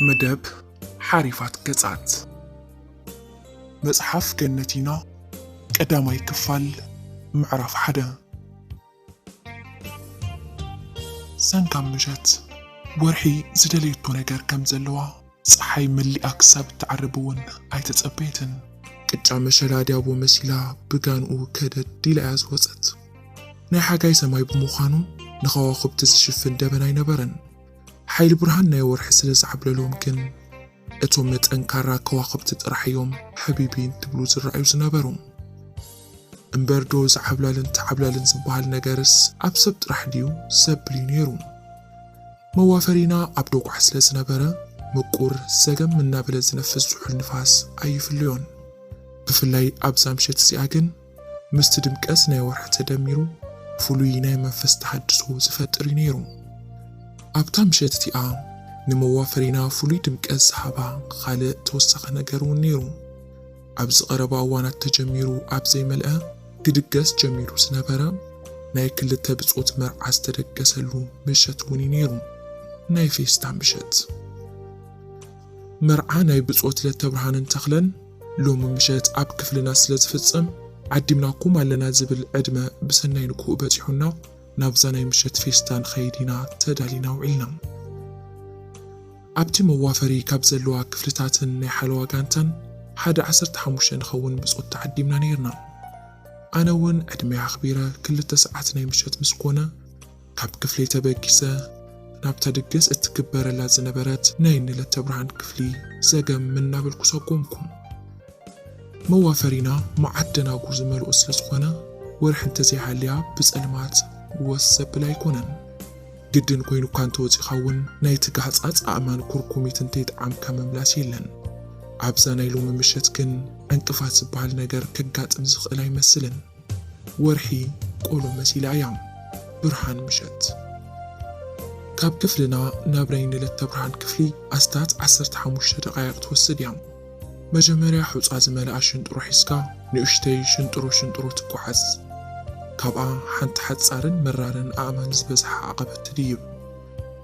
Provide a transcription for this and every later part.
መደብ ሓሪፋት ገጻት መጽሓፍ ገነቲና ቀዳማይ ክፋል ምዕራፍ ሓደ ሰንካም ምሸት ወርሒ ዝደለየቶ ነገር ከም ዘለዋ ጸሓይ መሊኣ ክሳብ እትዓርብ እውን ኣይተጸበየትን። ቅጫ መሸላ ዲያቦ መሲላ ብጋንኡ ከደድ ኢላ እያ ዝወጸት። ናይ ሓጋይ ሰማይ ብምዃኑ ንኸዋኹብቲ ዝሽፍን ደበና ኣይነበረን። ሓይሊ ብርሃን ናይ ወርሒ ስለ ዝዓብለሎም ግን እቶም ንጠንካራ ከዋኽብቲ ጥራሕ እዮም ሐቢቢ እንትብሉ ዝረኣዩ ዝነበሩ። እምበር ዶ እዚ ዓብላልን ተዓብላልን ዝበሃል ነገርስ ኣብ ሰብ ጥራሕ ድዩ ዘብል እዩ ነይሩ። መዋፈሪና ኣብ ዶግዓ ስለ ዝነበረ ምቁር ዘገም እናበለ ዝነፍስ ዝሑል ንፋስ ኣይፍለዮን። ብፍላይ ኣብዛ ምሸት እዚኣ ግን። ምስቲ ድምቀት ናይ ወርሒ ተደሚሩ ፍሉይ ናይ መንፈስ ተሃድሶ ዝፈጥር እዩ ነይሩ። ኣብታ ምሸት እቲኣ ንመዋፈሪና ፍሉይ ድምቀት ዝሃባ ኻልእ ተወሳኺ ነገር እውን ነይሩ። ኣብዚ ቀረባ እዋናት ተጀሚሩ ኣብ ዘይመልአ ክድገስ ጀሚሩ ዝነበረ ናይ ክልተ ብጾት መርዓ ዝተደገሰሉ ምሸት እውን እዩ ነይሩ። ናይ ፌስታ ምሸት መርዓ ናይ ብጾት ለተብርሃንን ተኽለን፣ ሎሚ ምሸት ኣብ ክፍልና ስለ ዝፍጸም ዓዲምናኩም ኣለና ዝብል ዕድመ ብሰናይ ንግሆኡ በጺሑና ናብዛ ናይ ምሸት ፌስታ ንኸይድ ኢና ተዳሊና ውዒልና። ኣብቲ መዋፈሪ ካብ ዘለዋ ክፍልታትን ናይ ሓለዋ ጋንታን ሓደ ዓሰርተ ሓሙሽተ ንኸውን ብጾት ተዓዲምና ነይርና። ኣነ እውን ዕድመይ ኣኽቢረ ክልተ ሰዓት ናይ ምሸት ምስ ኮነ፣ ካብ ክፍለይ ተበጊሰ ናብታ ድግስ እትግበረላ ዝነበረት ናይ እኒ ለተብርሃን ክፍሊ ዘገም እናበልኩ ሰጎምኩ። መዋፈሪና መዓት ደናጉር ዝመልኦ ስለ ዝኾነ ወርሒ እንተዘይሃልያ ብፀልማት ወስ ዘብል ኣይኮነን። ግድን ኮይኑካ እንተወፂእኻ እውን ናይቲ ጋህፃፅ ኣእማን ኩርኩሚት እንተይጠዓምካ ምምላስ የለን። ኣብዛ ናይ ሎሚ ምሸት ግን ዕንቅፋት ዝበሃል ነገር ከጋጥም ዝኽእል ኣይመስልን። ወርሒ ቆሎ መሲላ እያ ብርሃን ምሸት ካብ ክፍልና ናብ ናይ ንለተብርሃን ክፍሊ ኣስታት ዓሰርተ ሓሙሽተ ደቓይቕ ትወስድ እያ። መጀመርያ ሑጻ ዝመልኣ ሽንጥሮ ሒዝካ ንኡሽተይ ሽንጥሮ ሽንጥሮ ትጓዓዝ። ካብኣ ሓንቲ ሓጻርን መራርን ኣእማን ዝበዝሓ ኣቐበት ትድይብ።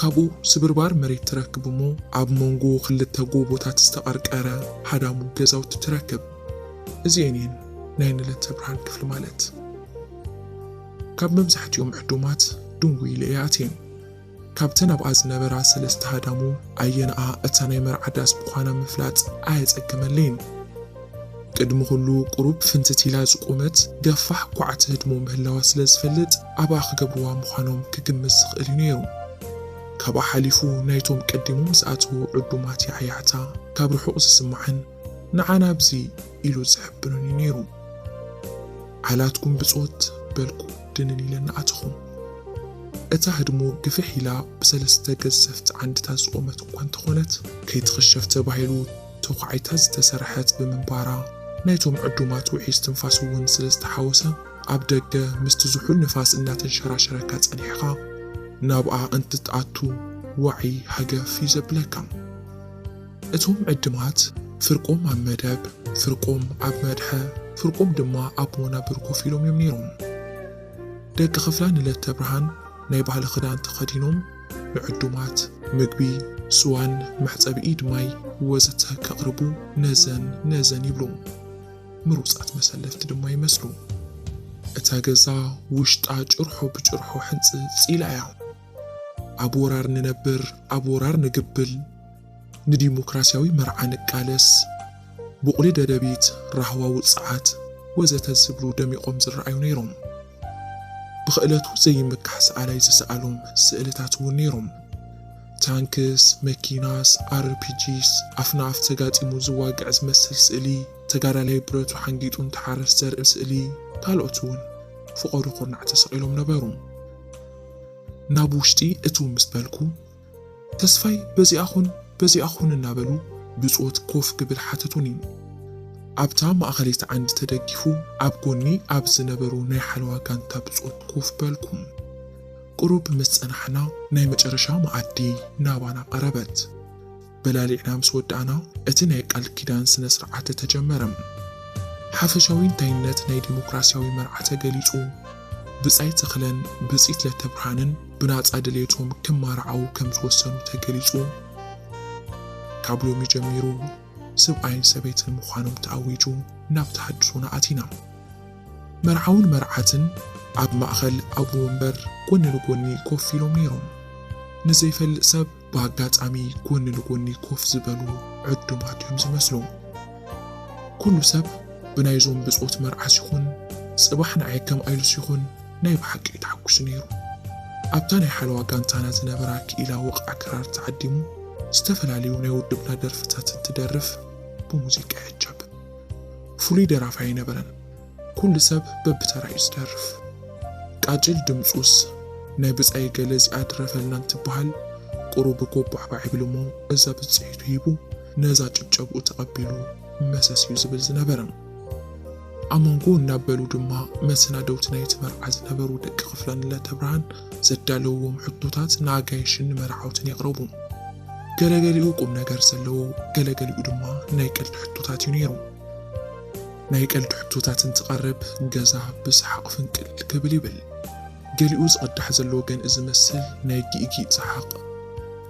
ካብኡ ስብርባር መሬት ትረክብ እሞ ኣብ ሞንጎ ክልተ ጎቦታት ዝተቐርቀረ ሃዳሙ ገዛውቲ ትረክብ። እዚኤን እየን ናይ ንለተ ብርሃን ክፍሊ ማለት። ካብ መብዛሕቲኦም ዕዱማት ድንጉይ ኢለ እየ ኣትየ። ካብተን ኣብኣ ዝነበራ ሰለስተ ሃዳሙ ኣየነኣ እታ ናይ መርዓ ዳስ ምዃና ምፍላጥ ኣየጸገመለይን። ቅድሚ ኩሉ ቁሩብ ፍንትት ኢላ ዝቖመት ገፋሕ ኳዕ ትህድሞ ምህላዋ ስለ ዝፈልጥ ኣብኣ ክገብርዋ ምዃኖም ክግምት ዝኽእል እዩ ነይሩ። ካብኣ ሓሊፉ ናይቶም ቀዲሞም ዝኣተዉ ዕዱማት ያዕያዕታ ካብ ርሑቕ ዝስማዕን፣ ንዓና ኣብዚ ኢሉ ዝሕብርን'ዩ ነይሩ። ዓላትኩም ብጾት በልኩ ድንን ኢለ እናኣተኹ። እታ ህድሞ ግፍሕ ኢላ ብሰለስተ ገዘፍቲ ዓንድታት ዝቖመት እኳ እንተኾነት፣ ከይትኽሸፍ ተባሂሉ ተዃዒታ ዝተሰርሐት ብምንባራ፣ ናይቶም ዕዱማት ውዑይ እስትንፋስ'ውን ስለ ዝተሓወሰ፣ ኣብ ደገ ምስቲ ዝሑል ንፋስ እናተንሸራሸረካ ጸኒሕኻ ናብኣ እንትትኣቱ ዋዒ ሃገፍ'ዩ ዘብለካ። እቶም ዕድማት ፍርቆም ኣብ መደብ፣ ፍርቆም ኣብ መድሐ፣ ፍርቆም ድማ ኣብ ወናብር ኮፍ ኢሎም እዮም ነይሮም። ደቂ ክፍላ ንለተብርሃን ናይ ባህሊ ክዳን ተኸዲኖም ንዕዱማት። ምግቢ፣ ስዋን መሕጸቢ ኢድ ማይ ወዘተ ከቕርቡ ነዘን ነዘን ይብሉ። ምሩጻት መሰለፍቲ ድማ ይመስሉ። እታ ገዛ ውሽጣ ጭርሖ ብጭርሖ ሕንጽጽ ኢላ እያ። ኣብ ወራር ንነብር ኣብ ወራር ንግብል ንዲሞክራሲያዊ መርዓ ንቃለስ ቡቕሊ ደደቢት ራህዋ ውጽዓት ወዘተ ዝብሉ ደሚቖም ዝረኣዩ ነይሮም። ብኽእለቱ ዘይምካሕ ሰኣላይ ዝሰኣሎም ስእልታት እውን ነይሮም። ታንክስ፣ መኪናስ፣ ኣርፒጂስ፣ ኣፍና ኣፍ ተጋጢሙ ዝዋግዕ ዝመስል ስእሊ፣ ተጋዳላይ ብረቱ ሓንጊጡ እንትሓርስ ዘርኢ ስእሊ ካልኦት እውን ፍቐዶ ኩርናዕ ተሰቒሎም ነበሩ። ናብ ውሽጢ እትው ምስ በልኩ፣ ተስፋይ በዚኣ ኹን በዚኣ ኹን እናበሉ ብጾት ኮፍ ክብል ሓተቱኒ። ኣብታ ማእኸለይቲ ዓንዲ ተደጊፉ ኣብ ጎኒ ኣብ ዝነበሩ ናይ ሓለዋ ጋንታ ብጾት ኮፍ በልኩ። ቁሩብ ምስ ጸናሕና ናይ መጨረሻ መኣዲ ናባና ቀረበት። በላሊዕና ምስ ወዳእና እቲ ናይ ቃል ኪዳን ስነ ስርዓተ ተጀመረ። ሓፈሻዊ እንታይነት ናይ ዲሞክራሲያዊ መርዓ ተገሊጹ። ብጻይ ተኽለን ብጽይት ለተብርሃንን ብናጻ ድሌቶም ክማራዓዉ ከም ዝወሰኑ ተገሊጹ። ካብ ሎሚ ጀሚሩ ስብኣይን ሰበይትን ምዃኖም ተኣዊጁ ናብ ተሃድሶና ኣቲና። መርዓውን መርዓትን ኣብ ማእከል ኣቡወንበር ጎኒ ንጎኒ ኮፍ ኢሎም ነይሮም። ንዘይፈልጥ ሰብ ብኣጋጣሚ ጎኒ ንጎኒ ኮፍ ዝበሉ ዕዱማት እዮም ዝመስሉ። ኩሉ ሰብ ብናይዞም ብጾት መርዓስ ይኹን ጽባሕ ንዓይ ከም ኣይሉስ ይኹን ናይ ብሓቂ እዩ ተሓጉሱ ነይሩ። ኣብታ ናይ ሓለዋ ጋንታና ዝነበራ ክኢላ ወቕዓ ክራር ተዓዲሙ ዝተፈላለዩ ናይ ውድብና ደርፍታት እንትደርፍ ብሙዚቃ ይዕጀብ። ፍሉይ ደራፋይ ኣይነበረን። ኩሉ ሰብ በብተራ እዩ ዝደርፍ ቃጭል ድምጹስ ናይ ብጻይ ገለ እዚኣ ድረፈልና እንትበሃል ቁሩብ ጎባዕባዕ ይብል እሞ እዛ ብጽሒቱ ሂቡ ነዛ ጭብጨብኡ ተቐቢሉ መሰስ እዩ ዝብል ዝነበረ። ኣብ መንጎ እናበሉ ድማ መሰናደውቲ ናይቲ መርዓ ዝነበሩ ደቂ ክፍለ ንለተብርሃን ዘዳለውዎም ሕቶታት ንኣጋይሽን ንመርዓውትን የቕረቡ። ገለገሊኡ ቁም ነገር ዘለዎ ገለገሊኡ ድማ ናይ ቀልዲ ሕቶታት እዩ ነይሩ። ናይ ቀልዲ ሕቶታት እንትቐርብ ገዛ ብሰሓቕ ፍንቅል ክብል ይብል። ገሊኡ ዝቕዳሕ ዘሎ ወገን እዚ መስል ናይ ጊእጊእ ሰሓቕ፣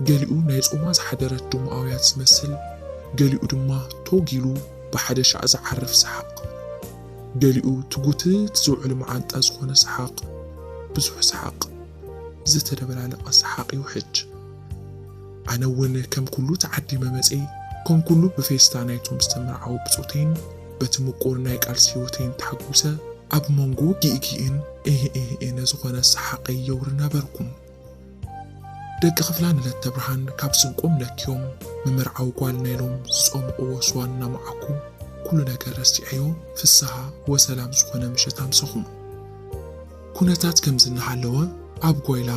ገሊኡ ናይ ጾማ ዝሓደረት ድሙ ኣውያት ዝመስል፣ ገሊኡ ድማ ቶግ ኢሉ ብሓደ ሻዕ ዝዓርፍ ሰሓቕ፣ ገሊኡ ትጉትት ዝውዕል መዓንጣ ዝኾነ ሰሓቕ፣ ብዙሕ ሰሓቕ። ዝተደበላለቐ ሰሓቕ እዩ ሕጅ። ኣነ እውን ከም ኩሉ ተዓዲመ መጼ፣ ከም ኩሉ ብፌስታ ናይቶም ዝተመርዓዉ ብጾተይን በቲ ምቁር ናይ ቃልሲ ህይወተይን ተሓጉሰ፣ ኣብ መንጎ ጊእጊእን ኤህኤህኤነ ዝኾነ ሰሓቐይ የውሪ ነበርኩ። ደቂ ክፍላ ንለተብርሃን ካብ ስንቆም ለኪዮም ምምርዓው ጓልና ኢሎም ዝጾምቕዎ ስዋ እናመዓኩ ኩሉ ነገር ረሲዐዮ ፍስሃ ወሰላም ዝኾነ ምሸት ኣምሰኹ። ኩነታት ከምዚ እናሃለወ ኣብ ጓይላ፣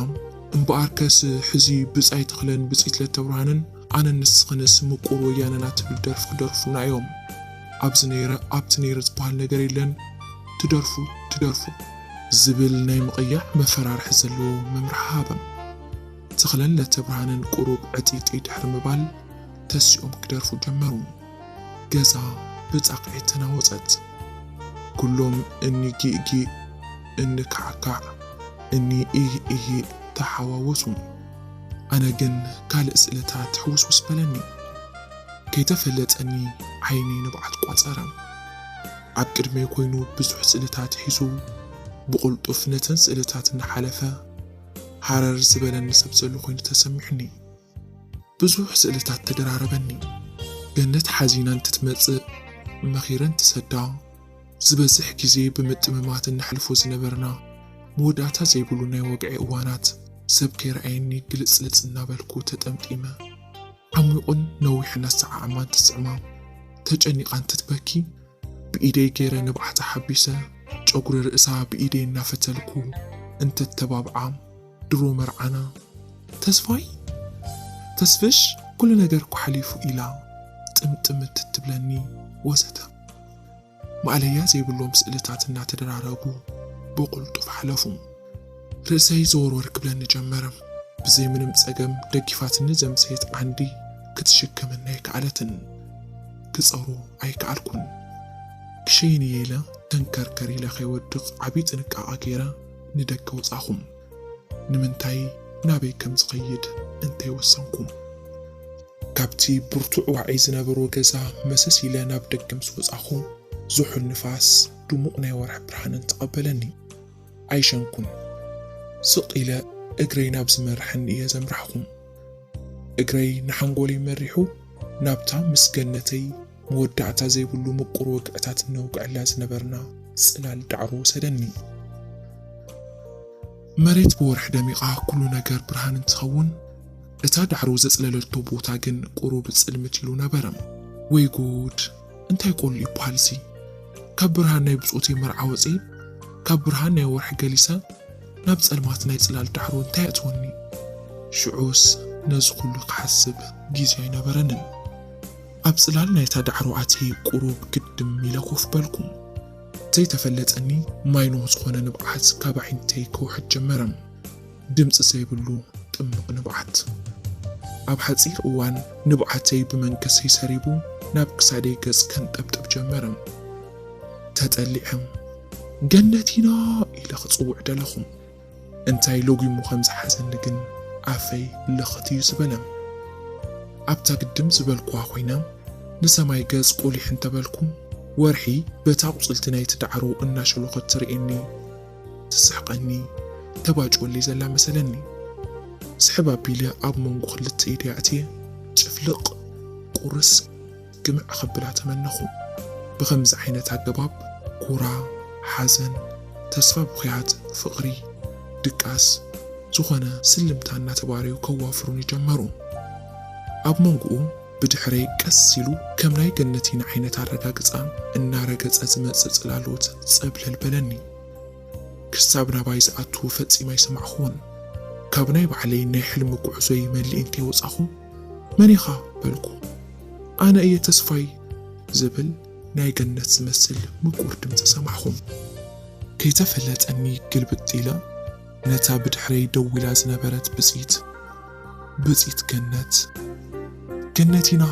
እምበኣርከስ ሕዚ ብጻይ ተኽለን ብጽይት ለተብርሃንን ኣነን ንስኽንስ ምቁር ወያነና ትብል ደርፊ ክደርፉልና እዮም። ኣብዚ ነይረ ኣብቲ ነይረ ዝበሃል ነገር የለን ትደርፉ ትደርፉ። ዝብል ናይ ምቕያዕ መፈራርሒ ዘለዎ መምርሒ ሃበም። ተኽለን ለተብርሃንን ቁሩብ ዕጥይጥይ ድሕሪ ምባል ተሲኦም ክደርፉ ጀመሩ። ገዛ ብጻቕዒት ተናወጸት። ኩሎም እኒ ጊእ-ጊእ፣ እኒ ካዕ-ካዕ፣ እኒ ኢሂእ-ኢሂእ ተሓዋወሱ። ኣነ ግን ካልእ ስእልታት ሕውስውስ በለኒ። ከይተፈለጠኒ ዓይነይ ንብዓት ቋጸረ። ኣብ ቅድመይ ኮይኑ ብዙሕ ስእልታት ሒዙ ብቕልጡፍ ነተን ስእልታት እናሓለፈ ሃረር ዝበለኒ ሰብ ዘሎ ኮይኑ ተሰሚዑኒ። ብዙሕ ስእልታት ተደራረበኒ። ገነት ሓዚና እንትትመጽእ መኺረን ትሰዳ። ዝበዝሕ ግዜ ብምጥምማት እነሕልፎ ዝነበርና መወዳእታ ዘይብሉ ናይ ወግዒ እዋናት ሰብ ከይረኣየኒ ግልጽልጽ እናበልኩ ተጠምጢመ። ዓሚቝን ነዊሕን ኣሰዓዕማ እንትስዕማ ተጨኒቓ እንትትበኪ ብኢደይ ገይረ ንብዓታ ሓቢሰ ጨጉሪ ርእሳ ብኢደይ እናፈተልኩ እንተተባብዓ፣ ድሮ መርዓና ተስፋይ ተስፍሽ ኩሉ ነገር እኮ ሓሊፉ ኢላ ጥምጥምት እትብለኒ ወዘተ ማእለያ ዘይብሎም ስእልታት እናተደራረቡ ብቁልጡፍ ሓለፉ። ርእሰይ ዘወርወር ክብለኒ ጀመረ። ብዘይ ምንም ጸገም ደጊፋትኒ ዘምሰየት ዓንዲ ክትሽከመኒ ኣይከኣለትን። ክጸሩ ኣይከኣልኩን። ክሸይን እየ ኢለ ተንከርከር ኢለ ከይወድቕ ዓብዪ ጥንቃቐ ገይረ ንደገ ወጻኹም? ንምንታይ? ናበይ ከም ዝኸይድ እንተይ ወሰንኩም? ካብቲ ብርቱዕ ዋዒ ዝነበሮ ገዛ መሰስ ኢለ ናብ ደገ ምስ ወጻኹ፣ ዝሑል ንፋስ፣ ድሙቕ ናይ ወርሒ ብርሃንን ተቐበለኒ። ኣይሸንኩን። ስቕ ኢለ እግረይ ናብ ዝመርሐኒ እየ ዘምራሕኹ። እግረይ ንሓንጎለይ መሪሑ ናብታ ምስ ገነተይ መወዳእታ ዘይብሉ ምቁር ወግዕታት እነውግዐላ ዝነበርና ጽላል ዳዕሮ ወሰደኒ። መሬት ብወርሒ ደሚቓ ኩሉ ነገር ብርሃን እንትኸውን፣ እታ ዳዕሮ ዘጽለለቶ ቦታ ግን ቁሩብ ጽልምት ኢሉ ነበረ። ወይ ጉድ! እንታይ ቆሉ ይብሃል'ዚ? ካብ ብርሃን ናይ ብጾተይ መርዓ ወጼ፣ ካብ ብርሃን ናይ ወርሒ ገሊሰ፣ ናብ ጸልማት ናይ ጽላል ዳዕሮ እንታይ የእትወኒ? ሽዑስ ነዚ ኩሉ ክሓስብ ግዜ ኣይነበረንን። ኣብ ጽላል ናይታ ዳዕሮ ኣትየ ቁሩብ ግድም ኢለ ኮፍ በልኩ። ዘይተፈለጠኒ ማይ ኖህ ዝኾነ ንብዓት ካብ ኣዒንተይ ክውሕጥ ጀመረ። ድምጺ ዘይብሉ ጥምቕ ንብዓት። ኣብ ሓጺር እዋን ንብዓተይ ብመንከሰይ ሰሪቡ ናብ ክሳደይ ገጽ ከንጠብጥብ ጀመረ። ተጠሊዐ ገነት ኢና ኢለ ክጽውዕ ደለኹ። እንታይ ለጒሙ ከም ዝሓዘኒ ግን ኣፈይ ልኽት እዩ ዝበለም። ኣብታ ግድም ዝበልኩዋ ኮይና ንሰማይ ገጽ ቁሊሕ እንተበልኩ ወርሒ በቲ ኣቑጽልቲ ናይቲ ዳዕሮ እናሸሎኸት ትርእየኒ፣ ትስሕቐኒ፣ ተባጭወለይ ዘላ መሰለኒ። ስሕብ ኣቢለ ኣብ መንጎ ክልተ ኢደይ ኣእትየ ጭፍልቕ፣ ቁርስ፣ ግምዕ ኸብላ ተመነኹ። ብኸምዚ ዓይነት ኣገባብ ኩራ፣ ሓዘን፣ ተስፋ ብኹያት፣ ፍቕሪ፣ ድቃስ፣ ዝኾነ ስልምታ እናተባረዩ ከዋፍሩኒ ጀመሩ። ኣብ መንጎኡ ብድሕረይ ቀስ ኢሉ ከም ናይ ገነቲና ዓይነት ኣረጋግጻ እናረገጸ ዝመጽእ ጽላሎት ጸብለል በለኒ። ክሳብ ናባይ ዝኣቱ ፈጺመ ኣይሰማዕኹዎን። ካብ ናይ ባዕለይ ናይ ሕልሚ ጉዕዞይ መሊእን ከይወጻኹ፣ መን ኢኻ? በልኩ። ኣነ እየ ተስፋይ! ዝብል ናይ ገነት ዝመስል ምቁር ድምጺ ሰማዕኹ። ከይተፈለጠኒ ግልብጥ ኢለ ነታ ብድሕረይ ደው ኢላ ዝነበረት ብጺት፣ ብጺት ገነት፣ ገነት ኢና!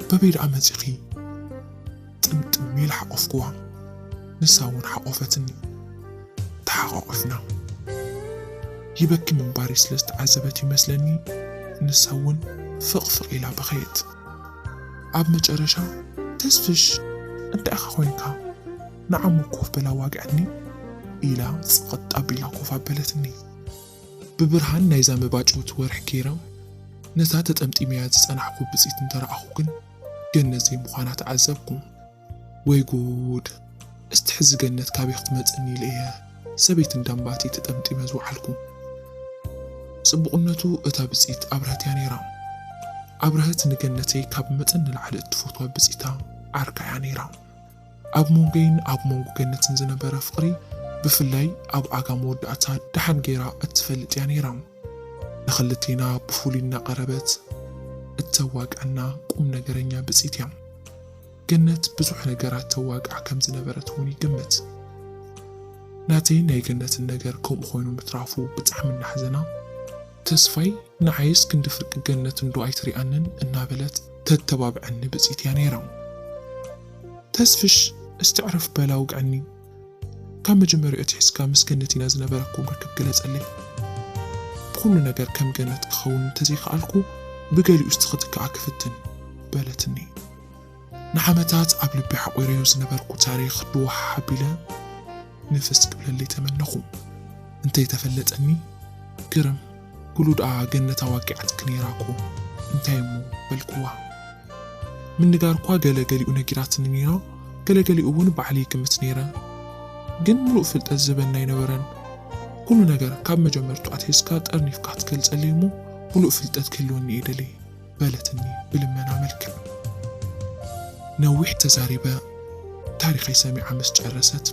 በበይ ደኣ መጺኺ? ጥምጥም ኢለ ሓቆፍክዋ፣ ንሳ እውን ሓቆፈትኒ። ተሓቛቝፍና። ይበኪ ምንባረይ ስለ ዝተዓዘበት እዩ መስለኒ ንሳ እውን ፍቕፍቕ ኢላ በኸየት። ኣብ መጨረሻ ተስፍሽ እንታይ ኢኻ ኮይንካ ንዓሙ ኮፍ በል ኣዋግዐኒ ኢላ ጽቕጥ ኣቢላ ኮፍ ኣበለትኒ። ብብርሃን ናይዛ መባጭውቲ ወርሒ ገይረ ነታ ተጠምጢመያ ዝጸናሕኩ ብጽት እንተረኣኹ ግን ገነት ዘይምዃና ተዓዘብኩ። ወይ ጉድ! እስቲ ሕዚ ገነት ካበይ ክትመጽእኒ ኢለ እየ ሰበይቲ እንዳ ኣምባቲ ተጠምጢመ ዝወዓልኩ። ጽቡቕነቱ እታ ብጽኢት ኣብረሀት እያ ነይራ። ኣብረሀት ንገነተይ ካብ መጠን ንላዕሊ እትፈትዋ ብጽኢታ ዓርካ እያ ነይራ። ኣብ ሞንጎይን ኣብ ሞንጎ ገነትን ዝነበረ ፍቕሪ ብፍላይ ኣብ ኣጋ መወዳእታ ደሓን ገይራ እትፈልጥ እያ ነይራ። ንክልቴና ብፍሉይ እናቐረበት እተዋግዐና ቁም ነገረኛ ብፅት እያ። ገነት ብዙሕ ነገራት ተዋግዕ ከም ዝነበረት እውን ይግምት። ናተይን ናይ ገነትን ነገር ከምኡ ኮይኑ ምትራፉ ብጣዕሚ እናሕዘና፣ ተስፋይ ንዓይስ ክንዲ ፍርቂ ገነት እንዶ ኣይትሪኣንን እናበለት ተተባብዐኒ ብፅት እያ ነይራ። ተስፍሽ እስቲ ዕረፍ በል ኣውግዐኒ! ካብ መጀመርያኡ ኣትሒዝካ ምስ ገነት ኢና ዝነበረኩም ርክብ ግለጸለይ። ብኹሉ ነገር ከም ገነት ክኸውን እንተዘይከኣልኩ ብገሊኡ እስቲ ክትክኣ ክፍትን። በለትኒ። ንዓመታት ኣብ ልቢ ሓቝረዮ ዝነበርኩ ታሪኽ ድዋሕ ኣቢለ ንፍስ ክብለለይ ተመነኹ። እንተይተፈለጠኒ ግርም። ኩሉ ድኣ ገነት ኣዋጊዓትኪ ነይራ እኮ እንታይ እሞ በልክዋ ምንጋርኳ ገለ ገሊኡ ነጊራትኒ ነይራ ገለ ገሊኡ ውን ባዕለይ ይግምት ነይረ ግን ምሉእ ፍልጠት ዝህበኒ ኣይነበረን ኩሉ ነገር ካብ መጀመርቱ ኣትሒዝካ ጠርኒፍካ ክትገልጸለይ እሞ ምሉእ ፍልጠት ክህልወኒ እየ ደልየ በለትኒ ብልመና መልክዕ ነዊሕ ተዛሪበ ታሪኸይ ሰሚዓ ምስ ጨረሰት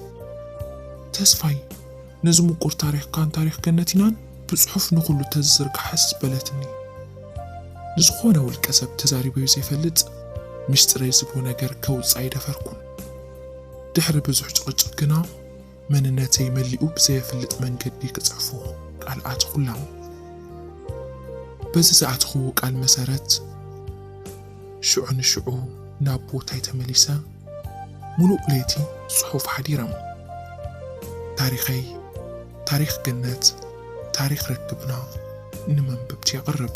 ተስፋይ ነዚ ምቁር ታሪኽካን ታሪኽ ገነቲናን ብጽሑፍ ንኹሉ ተዝዝርጋሕስ በለትኒ። ንዝኾነ ውልቀ ሰብ ተዛሪበዮ ዘይፈልጥ ሚስጢረይ ዝብሎ ነገር ከውጽእ ኣይደፈርኩን። ድሕሪ ብዙሕ ጭቕጭቕ ግና መንነተይ መሊኡ ብዘየፍልጥ መንገዲ ክጽሕፎ ቃል ኣተኹላ። በዚ ዝኣተኹዎ ቃል መሰረት፣ ሽዑ ንሽዑ ናብ ቦታይ ተመሊሰ ሙሉእ ለይቲ ፅሑፍ ሓዲረ። ታሪኸይ ታሪኽ ገነት ታሪኽ ርክብና ንመንበብቲ የቕርብ።